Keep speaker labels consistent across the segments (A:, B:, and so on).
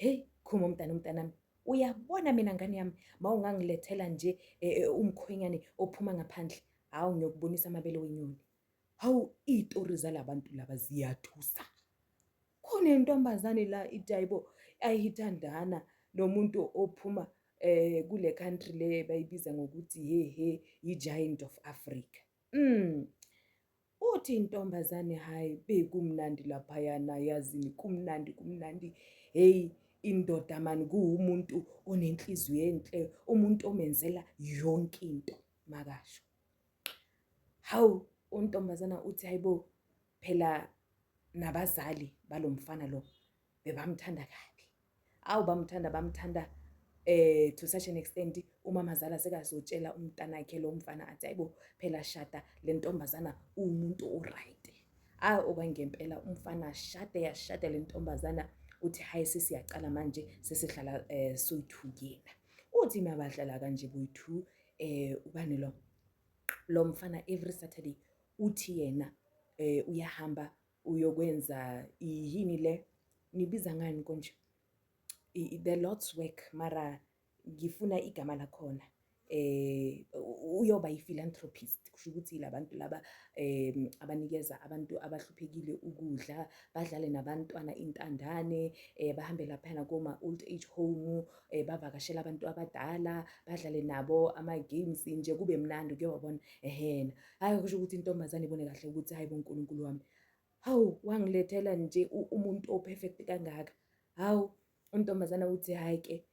A: Hey, khuma umntana umntanami. Uyabona mina ngane yami mawungangilethela nje e, e, umkhwenyane ophuma ngaphandle. Hawu ngiyokubonisa amabele wenyoni. Hawu izitori zalabantu laba ziyathusa. Khona intombazane la idayibo ayithandana nomuntu ophuma eh kule country le bayibiza ngokuthi he he i giant of Africa. Mm. Uthi intombazane hayi bekumnandi laphayana yazini kumnandi kumnandi heyi indoda mani kuwumuntu onenhliziyo enhle umuntu omenzela yonke into makasho hawu untombazana uthi hayibo phela nabazali balomfana lo bebamthanda kabi awu bamthanda bamthanda eh to such an extent umama zala sekazotshela umntanakhe lo mfana athi ayibo phela shada le ntombazana umuntu oright ah okwangempela umfana shade yashada le ntombazana uthi hayi sesiyaqala manje sesihlala eh soyithukela uthi mabahlala kanje boyithu eh ubani lo lo mfana every saturday uthi yena eh uyahamba uyokwenza yini le nibiza ngani konje the lord's work mara ngifuna igama lakhona eh uyoba yi-philanthropist kusho ukuthi labantu laba um abanikeza abantu abahluphekile ukudla badlale nabantwana intandane eh bahambe laphana koma old age home eh bavakashela abantu abadala badlale nabo ama games nje kube mnandi kuyobona ehena hhayi kusho ukuthi intombazane ibone kahle ukuthi hhayi bo nkulunkulu wami hawu wangilethela nje umuntu o-perfect kangaka hawu untombazana uthi hhayi ke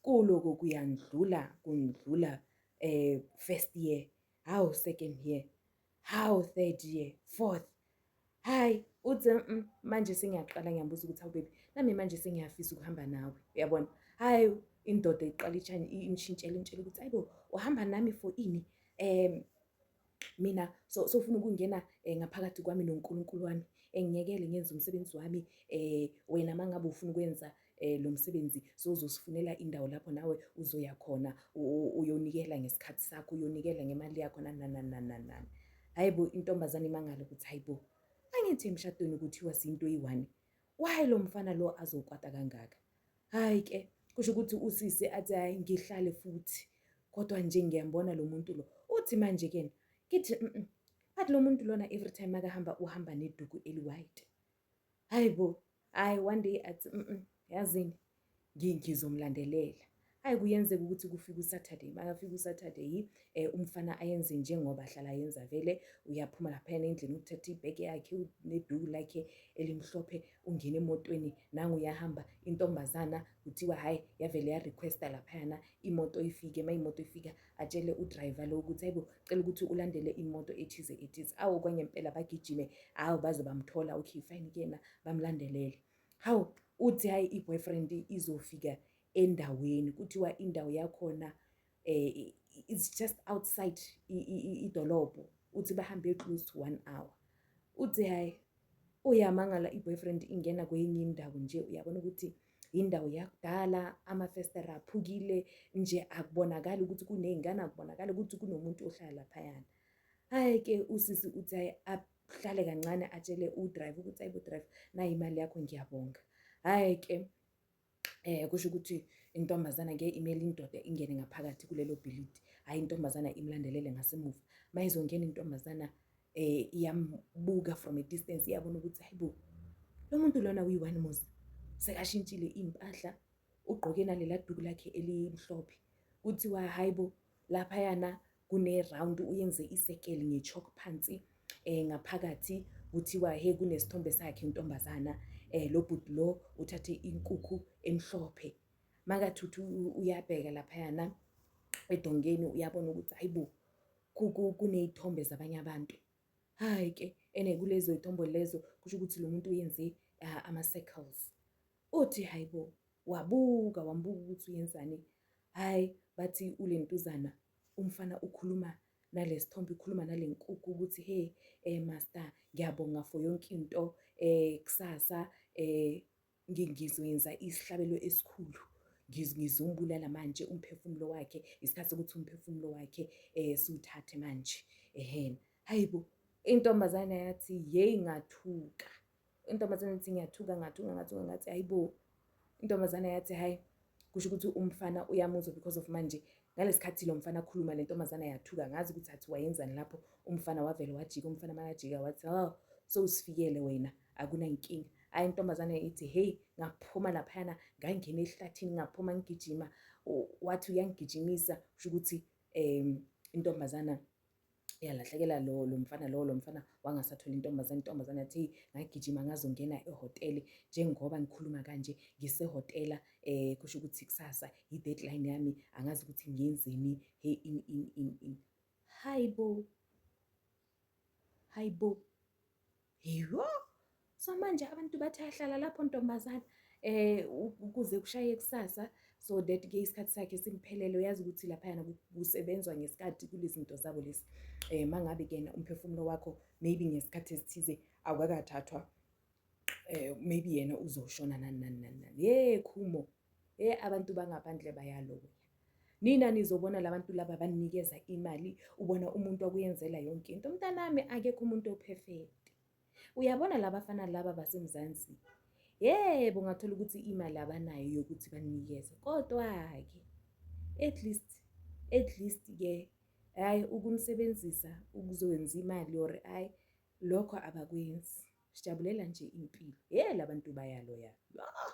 A: kuloko kuyandlula kundlula um first year hawu second year hawu third year fourth hhayi uthi mm, manje sengiyaqala ngiyabuza ukuthi awubebi nami manje sengiyafisa ukuhamba nawe uyabona hhayi indoda iqala itshani ingishintshela intshela ukuthi ayibo uhamba nami for ini um mina so sofuna ukungena um ngaphakathi kwami nonkulunkulu wami engiyekele ngenze umsebenzi wami um wena uma ngabe ufuna ukwenza eh lo msebenzi sozosifunela indawo lapho nawe uzoya khona uyonikela ngesikhathi sakho uyonikela ngemali yakho nananananani hayi bo intombazane imangalo ukuthi hayi bo angithi emshadweni kuthiwa sinto eyi-one why lo mfana lo azokwata kangaka hhayi ke kusho ukuthi usisi athi hhayi ngihlale futhi kodwa nje ngiyambona lo muntu lo uthi manje kena ngithi but lo muntu lona every time makahamba uhamba neduku eli-white hayi bo hayi one day athi mm, -mm yazini ngizomlandelela hayi kuyenzeka ukuthi kufika usaturday makafika usaturday um eh, umfana ayenze njengoba ahlala yenza vele uyaphuma laphayana endlini ukuthatha ibheke yakhe neduku lakhe elimhlophe ungena emotweni nangu uyahamba intombazana kuthiwa hhayi yavele yarequesta laphayana imoto ifike uma imoto ifika atshele udriver lo ukuthi hayibo cela ukuthi ulandele imoto ethize ethize awu kwenye impela bagijime hawu baze bamthola okay fine kuyena bamlandelele hawu uthi hayi i-boyfriend izofika endaweni kuthiwa indawo yakhona eh it's just outside idolobho uthi bahambe close to one hour uthi hayi Uyamangala i-boyfriend ingena kwenye indawo nje uyabona ukuthi indawo yakudala, amafestera aphukile nje akubonakali ukuthi kuney'ngane, akubonakali ukuthi kunomuntu ohlala laphayana. Hhayi-ke usisi uthi hhayi ahlale kancane atshele u-driver ukuthi ayi bo-driver nayi imali yakho ngiyabonga. Hhayi-ke eh kusho ukuthi intombazana ngeke imele indoda ingene ngaphakathi kulelo bhilidi hhayi intombazana imlandelele ngasemuva uma izongena intombazana eh iyambuka from a distance iyabona ukuthi hayi bo lo muntu lona uyi-one mos sekashintshile iy'mpahla ugqoke nalela duku lakhe elimhlophe kuthiwa hhayi bo Laphayana kune-round uyenze isekeli nge-chalk phansi um ngaphakathi kuthiwa he kunesithombe sakhe intombazana um lo bhuti lo uthathe inkukhu emhlophe makathuthi uyabheka laphayana edongeni uyabona ukuthi hayi bo kuney'thombe zabanye abantu hhayi-ke ene kulezo y'thombo lezo kusho ukuthi lo muntu uyenze ama-circles Othi hayibo wabuka wambuka ukuthi uyenzani hayi bathi ulentuzana umfana ukhuluma nalesithombe ukhuluma nalenkukhu ukuthi hey eh master ngiyabonga for yonke into eh kusasa eh ngizoyenza isihlabelo esikhulu ngizumbulala manje umphefumulo wakhe isikhathi sokuthi umphefumulo wakhe eh siwuthathe manje ehena hayibo intombazane yathi yeyi ngathuka intombazane ithi ngiyathuka ngathuka ngathuka ngathi hayi bo intombazane yathi hayi kusho ukuthi umfana uyamuzwa because of manje ngalesikhathi lo mfana akhuluma le ntombazane yathuka ngazi ukuthi athi wayenzani lapho umfana wavele wajika umfana makajika wathi oh so usifikele wena akunankinga hayi intombazane ithi heyi ngaphuma laphayana ngangena ehlathini ngaphuma ngigijima wathi uyangigijimisa kusho ukuthi um intombazana uyalahlekela lo lo mfana lo lo mfana wangasathola intombazane intombazane yathi hey ngagijima ngazongena ehhotela njengoba ngikhuluma kanje ngisehhotela eh kusho ukuthi kusasa i-deadline yami angazi ukuthi ngiyenzeni hey in in in in hayibo hayibo Yho! So manje abantu bathi ahlala lapho ntombazana eh ukuze kushaye kusasa so that ke isikhathi sakhe simphelele uyazi ukuthi laphayana kusebenzwa ngesikhathi kulezinto zabo lesi eh mangabe kena umphefumulo wakho maybe ngesikhathi esithize awukakathathwa eh maybe yena uzoshona nani nani nani yekhumo He abantu bangaphandle bayaloya. Nina nizobona labantu laba banikeza imali ubona umuntu okuyenzela yonke into. Mntanami akekho umuntu operfect. Uyabona labafana laba baseMzansi. Yebo ngathola ukuthi imali abanayo yokuthi banikeze. Kodwa ke at least at least ke hayi ukumsebenzisa ukuzokwenza imali or hayi lokho abakwenzi. Sijabulela nje impilo. He labantu bayaloya. Ah!